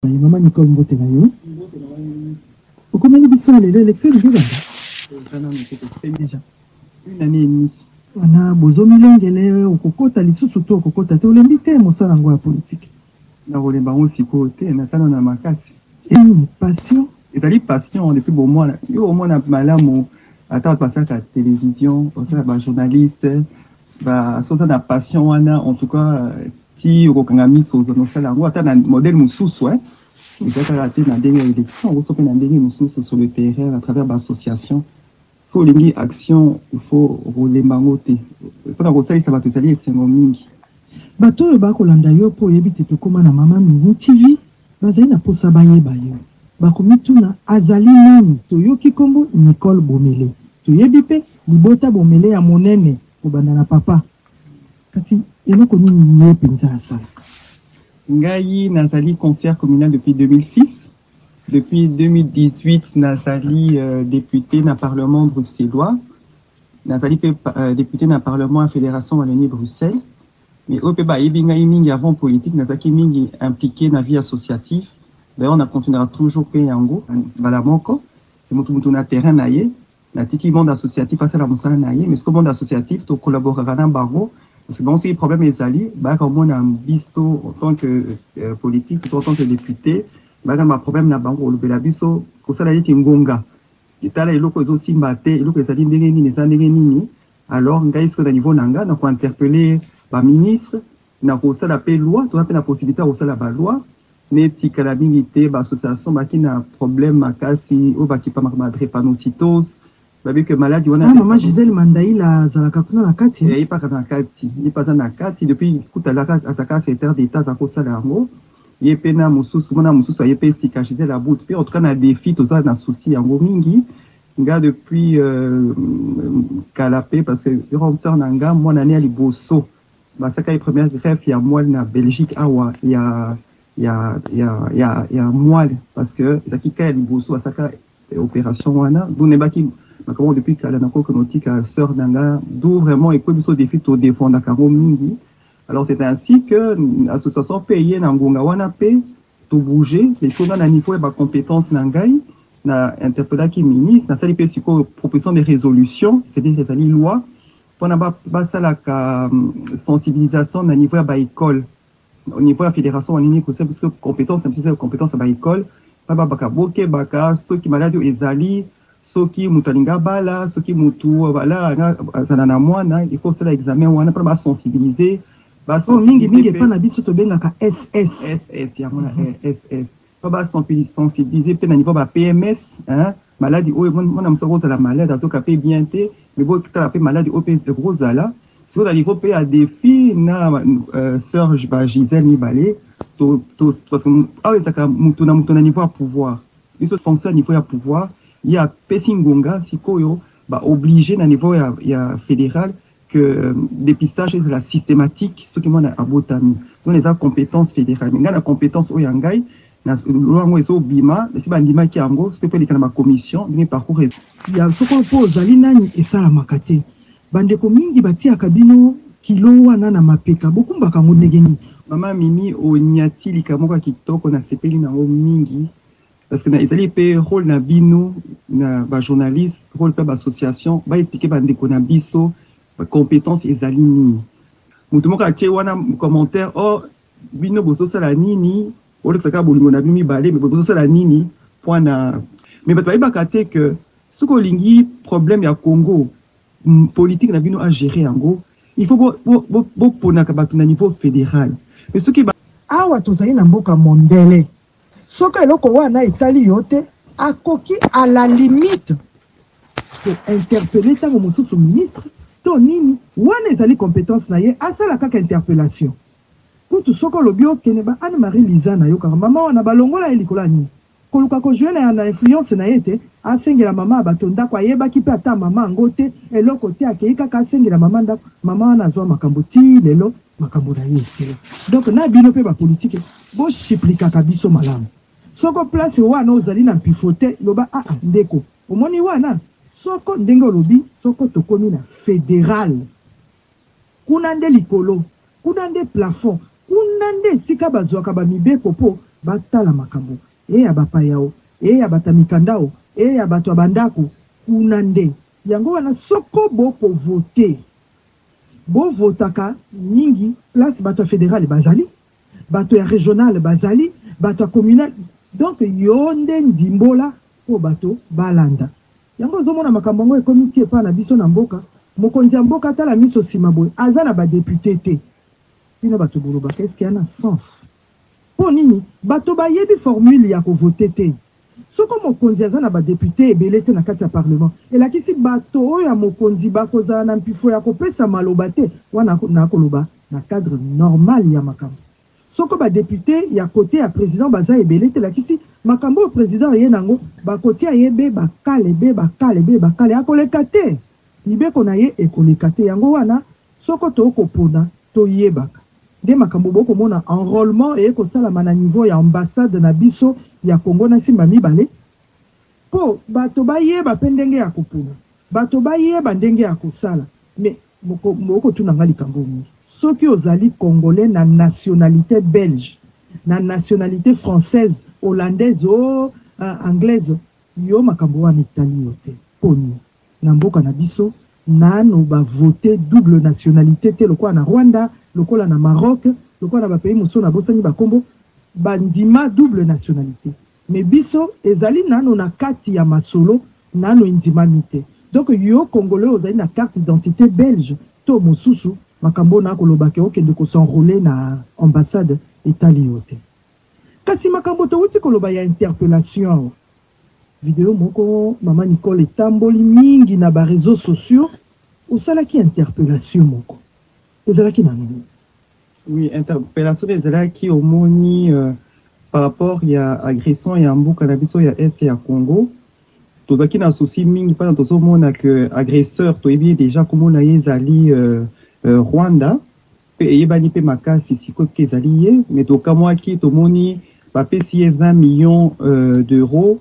Yy maman Nicole mbote na yo okomeli biso ya lelo election elingi ebanda eza nanu te tokufeli deja une annee et demie wana bozo milengele okokota lisusu to okokota te olembi te mosala yango ya politique nakolemba yango sikoyo te naza nanu na makasi une passion ezali passion depuis bomwana yo omona malamu ata bato basalaka television basalaka bajournaliste ba soza na passion wana en tout cas Ti okokanga miso ozo no sala yango ata na modèle mosusu eh eza kaka te na ndenge ya election okoso pe na ndenge mosusu sur le terrain à travers ba association so olingi action il faut okolemba yango te pona kosalisa bato ezali esengo mingi. Bato oyo ba kolanda yo po oyebi te tokoma na mama mimi TV bazali na posa bayeba yo bakomituna azali nani toyoki kombo Nicole Bomele toyebi pe libota Bomele ya monene kobanda na papa Kasi eloko nini ye penza asalaka? Ngai nazali conseillère communale depuis 2006. Depuis 2018 nazali deputee na parlement bruxellois. Nazali mpe deputee na parlement ya Federation Wallonie-Bruxelles. Mais oyo mpe bayebi ngai mingi avant politique nazalaki mingi impliquee na vie associative. D'ailleurs na continuaka toujours mpe yango mbala moko. Moto moto na terrain na ye. Natiki monde associatif asala musala na ye mais sikoyo monde associatif to collaboraka na bango parce que bango soki problème ezali bayaka komona biso en tant que euh, politique to en tant que député bayaka na problème na bango kolobela biso kosala neti ngonga etala eloko ezosimba te eloko ezali ndenge nini eza ndenge nini alors ngai sikoyo na niveau na ngai na kointerpelle baministre na kosala mpe loi toza mpe na possibilité ya kosala baloi Mais etikala mingi te ba associations baki na problème makasi oyo bakipamaka ba drepanocytose bayebi que maladi wana. Wana mama Gisèle Mandaila azalaka kuna na kati? Ye pe aza na kati, ye pe aza na kati depuis kutu azalaka secretaire d'Etat aza kosala yango ye pe na mosusu muana mosusu aye pe sika Gisèle Abud pe en tout cas na defi toza na souci yango mingi nga depuis kala pe parce que grande soeur na nga muana ne ya liboso Basakai première greffe ya moelle na Belgique awa ya ya ya ya ya moelle parce que ezalaki cas ya liboso basaka operation wana donc nayebaki makambo depuis kala nakoki kotika sœur na nga d'où vraiment ekwebi biso defi to defendaka yango mingi alors c'est ainsi que association mpe eye na ngonga wana mpe tobouge eko nga na niveau ya bacompétence na ngai na interpellaki ministre nasali mpe sikoyo proposition de résolution c'est-à-dire ezali loi pona basalaka sensibilisation na niveau ya ba ecole au niveau ya federation wanini kosa biso competence na biso eza competence ya ba ecole bababaka bokebaka soki maladi oyo ezali soki moto alinga bala soki moto bala azala na mwana il faut osala examen wana mpona basensibiliser mingi mingi epa na biso tobengaka ss ss yango na ss to ba sensibiliser pe na niveau ba PMS hein maladi oyo mwana mosusu akozala malade azoka pe bien te mais botala pe maladi oyo pe ekozala sikoyo na niveau pe ya defi na euh, sœur ba Gisèle mibale to to parce que awa ezalaka moto na moto na niveau ya pouvoir biso fonction ya niveau ya pouvoir ye apesi ngonga sikoyo ba oblige na niveau ya, ya fédéral que depistage ezala systématique soki mwana abotami zona eza compétence fédérale mais ngai na compétence oyo ya ngai na loi yango ezobima esi bandimaki yango soki mpe eleka na bacommission ndenge parcours ya soko mpo ozali nani esalamaka te bandeko mingi batiaka bino kilo wana na mapeka bokumbaka yango ndenge nini mama mimi onyati likambo moko ya kitoko nasepeli na yango mingi Parce que na ezali pe role na bino na ba journaliste role pe ba association ba expliquer ba ndeko na biso competence ezali nini moto moko atie wana commentaire o oh, bino bozosala nini olekisa kaka bolingo na bino mibale me bozosala nini mpo na me bato bayebaka te ke soki olingi problème ya congo politique na bino agere yango il faut boponaka bato na niveau fédéral me soki awa tozali na mboka mondele Soki eloko wana etali yo te, akoki à la limite ko interpeller tango mosusu ministre to nini, wana ezali competence na ye, asala kaka interpellation. Kutu soki olobi okende ba Anne Marie Liza nayokaka maman wana balongola ye likolo ya nini? Koluka ko jouer na na influence na ye ete asengela mama ya bato ndako, ayebaki mpe ata mama yango te, eloko te, akeyi kaka asengela mama ndako, mama wana azua makambo tii lelo. Makambo na ye esila donc na bino pe ba politique bo shiplikaka biso malamu soko place wana ozali na mpifo te loba aa ndeko omoni wana soko ndenge olobi soko tokomi na federal kuna nde likolo kuna nde plafond kuna nde esika bazuaka ba mibeko po batala makambo e ya ba payao e ya bata mikandao e ya bato ya ba ndako kuna nde yango wana soko boko vote Bo votaka mingi place batu ya federale bazali, batu ya regionale bazali, batu ya communale donc yo nde ndimbola po bato balanda yango ozo mona makambo yango ekomi ti epa na biso na mboka mokonzi ya mboka atala miso sima boye aza na ba depute te bino bato bolobaka eske ya na sens po nini bato bayebi formule ya ko vote te Soko mokonzi aza na ba deputes ebele te na kati ya parlement, elakisi bato oyo ya mokonzi bakozala na mpifo ya kopesa maloba te, wana nakoloba na cadre normal ya makambo. Soko ba deputes ya cote ya president baza ebele te, elakisi makambo oyo president aye na yango bakotia ye be bakale, be bakale, be bakale, akoleka te! Mibeko na ye ekoleka te, yango wana Soko to ko pona, to yebaka nde makambo bo ko mona enrolement eye ko salama na niveau ya ambassade na biso ya Congo na Simba mibale po bato ba yeba pe ndenge ya ko pona, bato ba yeba ndenge ya ko sala mais boko boko tuna nga likambo moko soki ozali congolais na nationalite belge, na nationalite française, hollandaise ooh anglaise yo makambo wana etali yo te poni? Na mboka na biso nanu ba vote double nationalite te lokola na Rwanda, lokola na Maroc, lokola na ba pays mosusu na bosani ba kombo, ba ndima double nationalite mais biso ezali nanu na kati ya masolo nanu endimami te. Donc yo congolais ozali na carte d'identite belge to mosusu makambo oyo na koloba que okende ko s'enroler na ambassade etali yo te. Kasi makambo towuti koloba ya interpellation Video moko maman Nicole etamboli mingi na ba reseaux sociaux, osalaki interpellation moko ezalaki na nini? Oui, interpellation ezalaki omoni euh, par rapport ya agression ya mboka na biso ya est ya Congo tozalaki na souci mingi mpona tozomona que agresseur toyebi ye déjà komona ye ezali euh, euh, Rwanda Pe eyebani pe makasi sikoyo ke ezali ye, mais tokamwaki tomoni bapesi ye 20 millions d'euros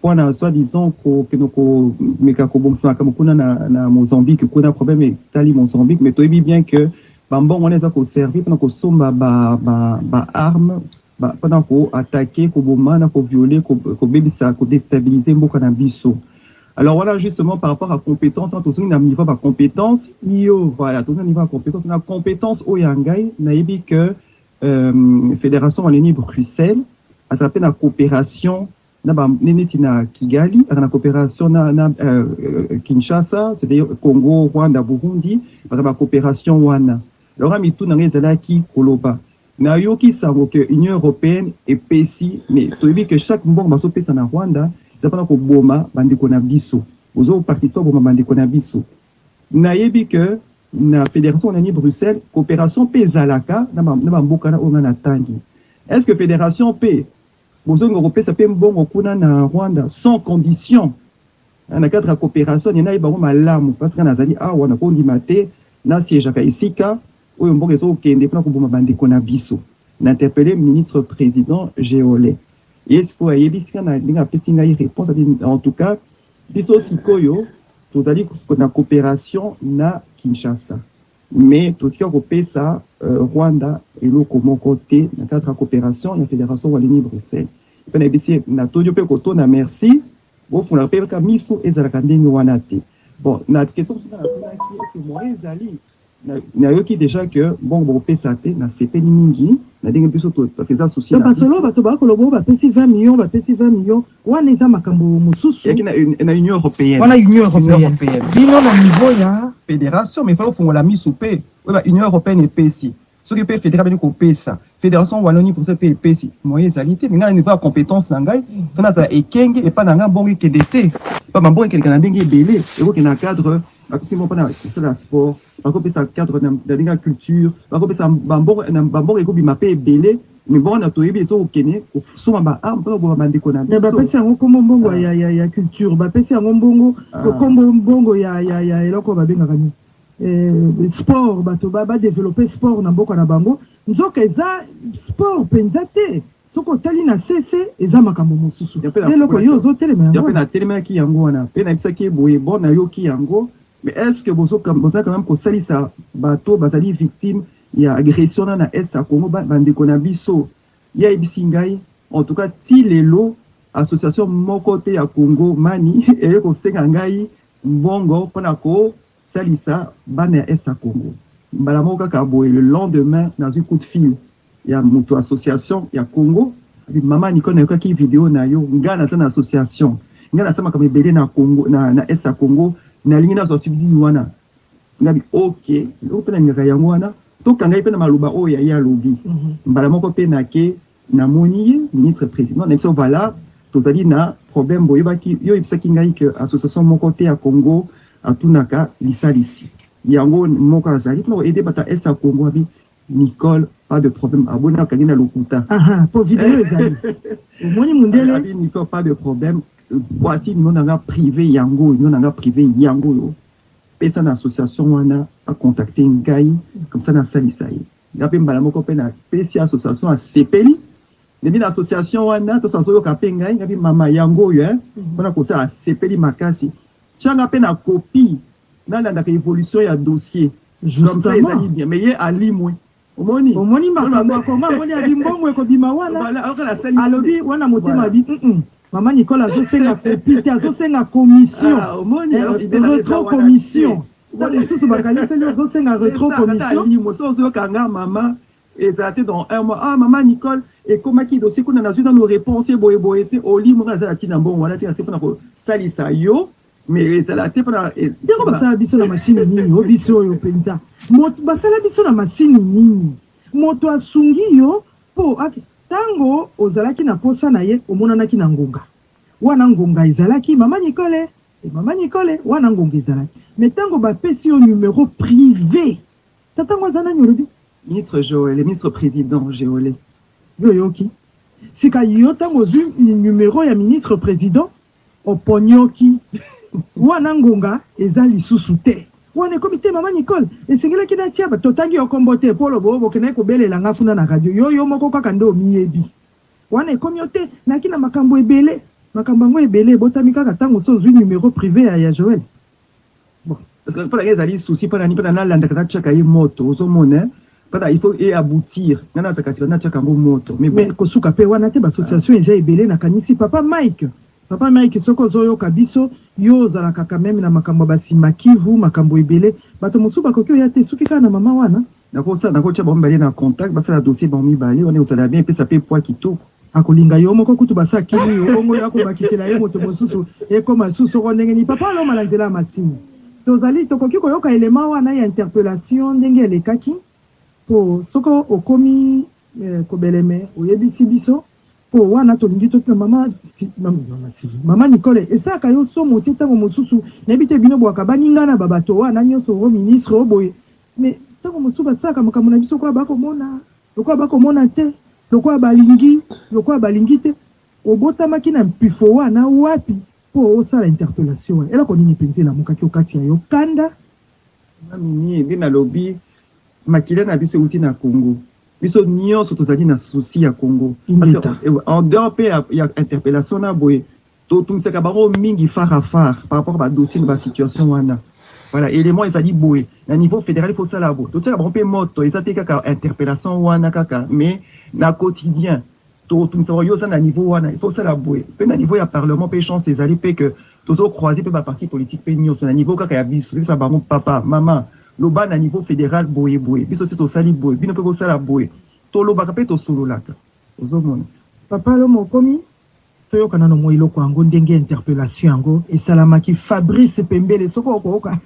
po na soit disant kokende komeka kobongisa makambo kuna na Mozambique, kuna probleme etali Mozambique, mais toyebi bien que ba mbongo wana eza ko servir pona kosomba ba armes. ba pona ko attaquer, ko boma na ko violer, ko ko bebisa, ko destabiliser mboka na biso. Alors wana justement par rapport à competence wana tozongi na niveau ya ba competence iyo voilà tozongi na niveau ya competence na competence oyo ya ngai nayebi que euh, federation wallonie bruxelles azala mpe na coopération na ba neti na Kigali na cooperation na, na uh, Kinshasa c'est-à-dire Congo, Rwanda, Burundi baza ba cooperation wana. Alors mitu na ngai ezalaki koloba nayoki sango que Union européenne epesi mais toyebi que chaque mbongo bazopesa na Rwanda eza mpona koboma bandeko na biso ozo participe koboma bandeko na biso nayebi que na fédération nani Bruxelles coopération mpe ezalaka na bamboka na oyo ngai natangi est ce que fédération mpe Bozongi bako pesa pe mbongo kuna na Rwanda sans condition na cadre ya cooperation nde nayebi bango malamu parce que nga nazali awa nako ndima te na siegeaka esika oyo mbongo ezo kokende pona koboma ba ndeko na biso na interpelle ministre president Geole ye sikoyo ayebisi nga na ndenge apesi ngai reponse ati en tout cas biso sikoyo tozali na cooperation na Kinshasa. Mais totika ko kopesa Rwanda eloko moko te na cadre ya cooperation ya Federation Wallonie-Bruxelles. Pe na yebisi ye na todi yo pe koto na merci bo fungolaka pe ka miso ezalaka ndenge wana te. Bon na question mosusu nga na tunaki est ce que moyen ezali? Na yoki dejà que mbongo boko pesa te, na sepeli mingi na ndenge biso to parce que eza souci na biso. Ba solo bato ba kolobo ba pesi 20 millions ba pesi 20 millions. Wana eza makambo mosusu. Eyaki na, na Union Europeenne. Wana Union Europeenne. Bino na niveau ya federation mais faut fongola misu pe oyo ba Union Europeenne epesi. Soki pe federation bani kopesa, federation Wallonie pour pe epesi. Moyen ezali te, mais ngai na niveau ya compétence na ngai, faut nazala ekenge epa na ngai mbongo ekende te. Pa ba mbongo ekendeka na ndenge ebele, ekoki na cadre bakosi mbongo mpona kosala sport, bakopesa cadre na ndenge ya culture, bakopesa bambongo, bambongo ekobima pe ebele. Mais bon na toyebi ezo kokene kosomba ba armes pona koboma ba ndeko na biso. Mais ba pesi yango kombo mbongo ah. ya ya ya culture, ba pesi yango mbongo ah. kombo mbongo ya ya ya eloko ba bengaka ni. Eh, sport bato ba ba développer sport na mboka na bango. Nzoka eza sport penza te. soki otali na sese eza makambo mosusu eloko yo ozotelema yango mpe natelemelaki yango wana mpe nayebisaki ye boye bo nayoki yango Mais est ce que bozo quand meme ko salisa batu oyo bazali victime ya agression wana na est ya Congo ba ndeko na biso? Ye ayebisi ngai en tout cas ti lelo association moko te ya Congo mani eye ko senga ngai mbongo pona ko salisa bana ya est ya Congo. Mbala moko kaka boye le lendemain nazui coup de fil ya mutu association ya congo maman Nicole nayokaki video na yo nga naza na association nga nasala makambo ebele na congo na, na est ya congo nalingi nazwa subside wana ngabi ok eloko mpe nalingaka yango wana tokangaki mpe na maloba oyo ya ye alobi mhm. mbala moko mpe nake namoni ye ministre président na biso vala tozali na problème boyebaki yo oyebisaki ngai ke association moko te ya congo atunaka lisalisi yango moko azali mpona koede bata est ya congo abi Nicole pas de problème aboni akangi na lokuta aha po video ezali omoni mundele abi Nicole pas de problème voici numéro na nga privé yango oyo numéro na nga privé yango oyo pesa na association wana akontacte ngai comme ça nasalisa ye nga mpe mbala moko mpe napesi association asepeli ndebi na association wana tosa azoyoka mpe ngai ngabi mama yango oyo mpona eh, mhm. kosala asepeli makasi Tia nga pe na copie na landaka evolution ya dossier comme ça ezali bien mais ye alimwe omoni omoni makambo ya congo amoni abi mbongo ekobima wana alobi wana motema abi mm mama Nicole azosenga copie te azosenga commission ah, eh, retro commission ntango mosusu bakaniseli ozosenga retro commission Ezala te dans un mois ah maman Nicole ekomaki dossier kuna nazui nanu reponse boye boye te oli moko aza na tina mbongo wana te nase pona kosalisa yo mais ezala te pona eh, yango basala biso na machine nini o biso oyo penza moto basala biso na machine nini moto asungi yo po tango ozalaki na posa na ye omonanaki na ngonga wana ngonga ezalaki mama Nicole mama Nicole wana ngonga ezalaki mais tango bapesi yo numero prive Tata yango aza nani olobi? Ministre Joele, ministre president Geole. Yo oyoki? Sika yo ntango ozwi numero ya ministre president oponyoki wana ngonga eza lisusu te. Wana ekomi te mama Nicole, esengelaki natia ba- totangi yo kombo te po lobo bokendaki kobelela nga kuna na radio yo yo moko kaka nde omiyebi. Wana ekomi yo te, nayaki na makambo ebele. Makambo yango ebele ebotami kaka ntango so ozwi numero prive ya, ya Joel. Parce que mpona ye ezali souci mpona nini mpona nalandaka natiaka ye moto ozomona mpona il faut e aboutir nga nazaka sila natiaka yango moto mais bon. mais kosuka mpe wana te bassociation eza ebele nakanisi papa mike papa mike soki ozoyoka biso yo ozalaka quand meme na makambo ya basimba kivu makambo ebele bato mosusu bakoki oya te soki kaka na mama wana nakosala nakotia bango mibale na contact basala dossier bango mibale wana ekozala bien epesa mpe poids kitoko Akolinga yo moko kutu basi akimi yo bongo yo akobakisela ye moto mosusu ekoma lisusu soko ndenge nini papa aloma na nzela ya masini tozali tokoki koyoka element wana ya interpellation ndenge elekaki po soko okomi eh, kobeleme oyebisi biso po wana tolingi to mama si, mama, mama, si. mama Nicole esaka yo somo te ntango mosusu nayebi te bino bwaka baninga na babato wana nyonso o ministre oboye mais ntango mosusu basalaka makambo na biso kwa bakomona Lokola bakomona te, lokola balingi, lokola balingi te. Obotamaki na mpifo wana wapi mpo osala interpellation wana? Eloko nini mpenza elamukaki okati ya yo? Kanda? Mama Mimie, nde nalobi, makila na biso euti na Congo. Biso nionso tozali na souci ya Congo. Ingeta. En dehors mpe ya interpellation na boye, To tungisaka bango mingi phare à phare par rapport ba dossiers na ba situations wana. Voilà, element ezali boye, na niveau federal il faut osala boye. To tiaka bango mpe moto, eza te kaka interpellation wana kaka mais na quotidien to tungisa bango, yo oza na niveau wana il faut osala boye. Mpe na niveau ya parlement mpe chance ezali mpe que tozo croiser mpe ba partis politiques mpe nionso na niveau kaka ya biso. To yebisa bango papa, maman, loba na niveau federal boye boye, biso si tosali boye, bino mpe bosala boye. To lobaka mpe to sololaka, ozo mona. Papa Lomo okomi? Toyoka nano mua eloko yango ndenge interpellation yango esalamaki Fabrice pembele soki oko oka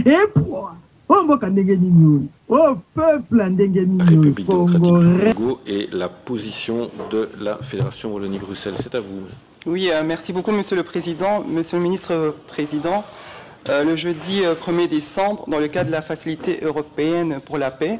epua oyo mboka ndenge nini oyo oyo oh, peuple ndenge nini oyo congolais et la position de la fédération Wallonie Bruxelles c'est à vous oui euh, merci beaucoup monsieur le président monsieur le ministre euh, président euh, le jeudi 1er euh, décembre dans le cadre de la facilité européenne pour la paix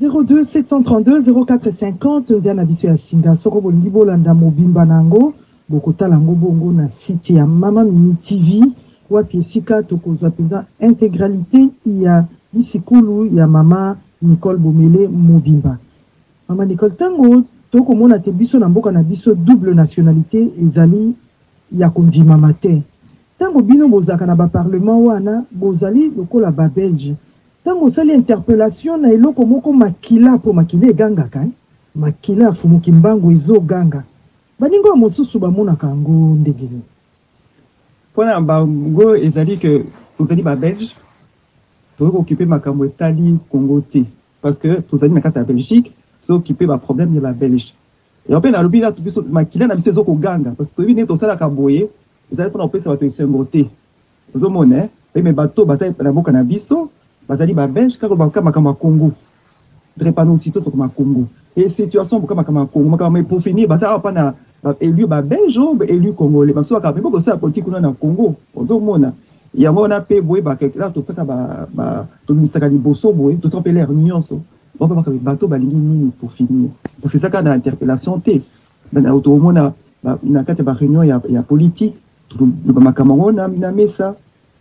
02 732 0450 nzela na biso ya singa soko bolingi bolanda mobimba na yango bokotala yango bongo na site ya mama mimi tv wapi esika tokozwa mpenza integralite ya lisikulu ya mama nicole bomele mobimba mama nicole ntango tokomona te biso na mboka na biso double nationalité ezali ya kondimama te ntango bino bozalaka na baparlement wana bozali lokola babelge Tango osali interpellation na eloko moko makila po makila egangaka hein makila ya fumu kimbangu ezo ganga baninga oyo mosusu ba monaka yango ndenge nini? Pona bango ezali que tozali ba belge tokoki ko occuper makambo etali congo te parce que tozali na kati ya belgique tozo occuper ba problème ya ba belge yango pe nalobi na biso makila na biso ezo ko ganga parce que toyebi ndenge tosalaka boye ezali pona kopesa batu esengo te. Ozo mona eh eh mais batu oyo baza na boka na biso bazali ba belge kaka oloba kaka makambo ya congo drepanoucito toko ma congo et situation boka makambo ya congo makambo mais pour finir baza awa pa na ba elus ba belge ou ba elus congolais basusu bakaka mais boko sala politique kuna na congo ozo mona yango wana pe boyeba quelque part tosaka ba ba tobimisaka liboso boye tosaka pe l'air nionso boko baka mais batu balingi nini pour finir parce que saka na interpellation te mais na auto omona na kati ya ba reunion ya ya politique tokoloba makambo yango na, na mesa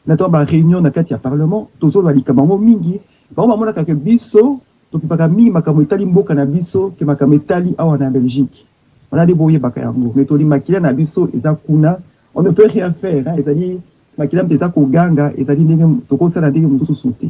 na ntango bareunion na kati ya parlement tozoloba likambo yango mingi bango bamonaka ke biso tokipaka mingi makambo etali mboka na biso ke makambo etali awa na belgique wana nde boyebaka yango me toli makila na biso eza kuna on ne peut rien faire ezali makila mpe eza koganga ezali ndenge tokosala ndenge mosusu te